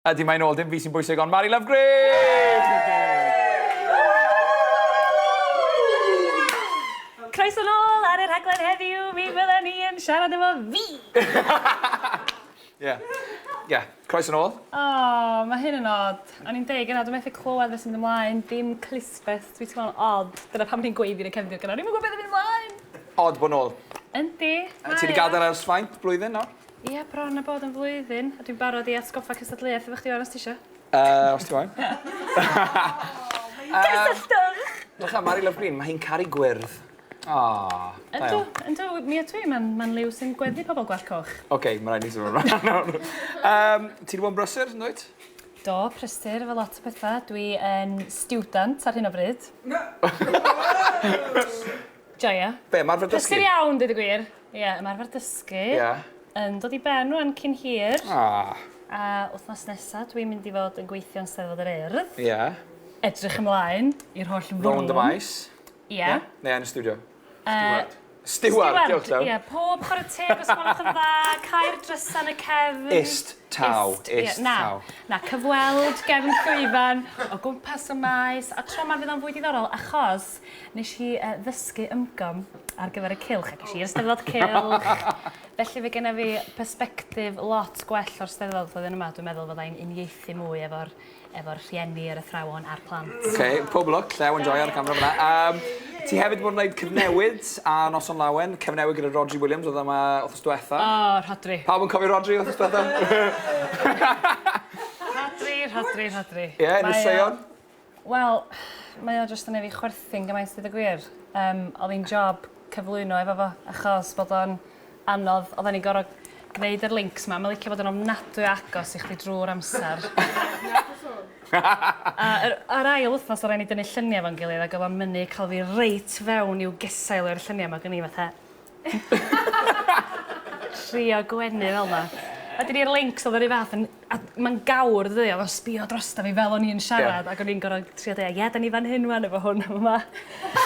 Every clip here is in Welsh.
Ydy, mae'n ôl, dim fi sy'n bwysig, ond Mari Lovegrave! Croeso nôl ar y rhaglen heddiw, mi fydden ni yn siarad efo fi! Ie. Ie, croeso nôl. O, mae hyn yn od. O'n i'n deud gynnau, dwi'n methu clywed beth sy'n mynd ymlaen, dim clustfest, dwi teimlo'n od. Dyna pam ni'n gweiddi yn y cefndir gynnau, o'n i'm yn gwybod beth yn mynd ymlaen! Od bod nôl. Yndi, mae o. Ti wedi gadael ers faint, blwyddyn nawr? Ie, bron a bod yn flwyddyn, a dwi'n barod i atgoffa cystadleuaeth efo chdi ŵan os ti isio. Yy, os ti moyn. Cysylltwch! Dwch am Mari Love Green, mae hi'n caru gwyrdd. Aww, da iawn. Yndw, yndw, mi ydw i, mae'n ma liw sy'n gweddu pobl gwallt coch. Oce, okay, mae'n rhaid ni symud ymlaen nawr. um, ti wedi bod yn brysur, yn dweud? Do, prysur efo lot o pethau. Dwi yn student ar hyn o bryd. Joia. Be, mae'r fe dysgu? Prysur iawn, dwi wedi gwir. Ie, ymarfer dysgu. Ie. Yn dod i ben rwan cyn hir. Ah. A wthnos nesa dwi'n mynd i fod yn gweithio yn Steddfod yr Urdd. Ie. Edrych ymlaen i'r holl frwm. Rownd y maes. Ie. Neu yn y stiwdio. Stiward. Stiward, diolch Dew. Ie, pob chwarae teg os gwelwch yn dda, cau'r drysa yn y cefn. Ist taw, ist taw. Na, cyfweld gefn llwyfan o gwmpas y maes, a tro 'ma fydd o'n fwy diddorol achos Nes i uh, ddysgu ymgom ar gyfer y cilch ac eisiau i'r steddfod cilch. Felly fe genna fi perspectif lot gwell o'r steddfod flwyddyn yma. Dwi'n meddwl fod ein uniaethu mwy efo'r efo rhieni, yr athrawon a'r plant. Oce, okay, pob lwc, llew yn joio'r camera fyna. Um, ti hefyd bod yn gwneud cyfnewid a noson lawen, cyfnewid gyda Rodri Williams oedd yma wrth diwetha. O, oh, Rodri. Pawb yn cofio Rodri wrth diwetha? Rodri, Rodri, Rodri. Ie, yeah, yn y seion. Wel, mae o jyst yn neu' fi chwerthin gymaint deud y gwir. Yym o'dd 'i'n job cyflwyno efo fo achos bod o'n anodd oddan ni'n gor'o' gneud yr lincs 'ma ma' licio bod yn ofnadwy o agos i chdi drw'r amser. A yr yr ail wthnos o' rai' ni dynnu llunie efo'n gilydd ag o'dd o'n mynnu ca'l fi reit fewn i'w gesail efo'r llunia' 'ma ag o'n i fatha Trio gwenu fel 'na. A 'dyn ni'r lincs o'dd yr un fath yn a ma'n gawr dydi o'dd o'n sbïo drosto fi fel o'n i yn siarad ag o'n i'n gor'o' trio deu' ie 'dan ni fan hyn ŵan efo hwn a fy' 'ma.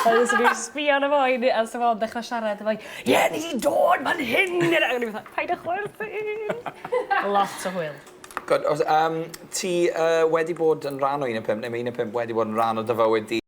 A jys o'n i'n sbïo arno fo i ni- a so fo'n dechra siarad efo 'i ie ni 'di dod fan hyn i ne-... A o'n i fatha paid â chwerthin. Lot o hwyl. Good os yym ti yy wedi bod yn rhan o un o'r pump ne' ma' un o'r pump wedi bod yn rhan o dy fywyd di?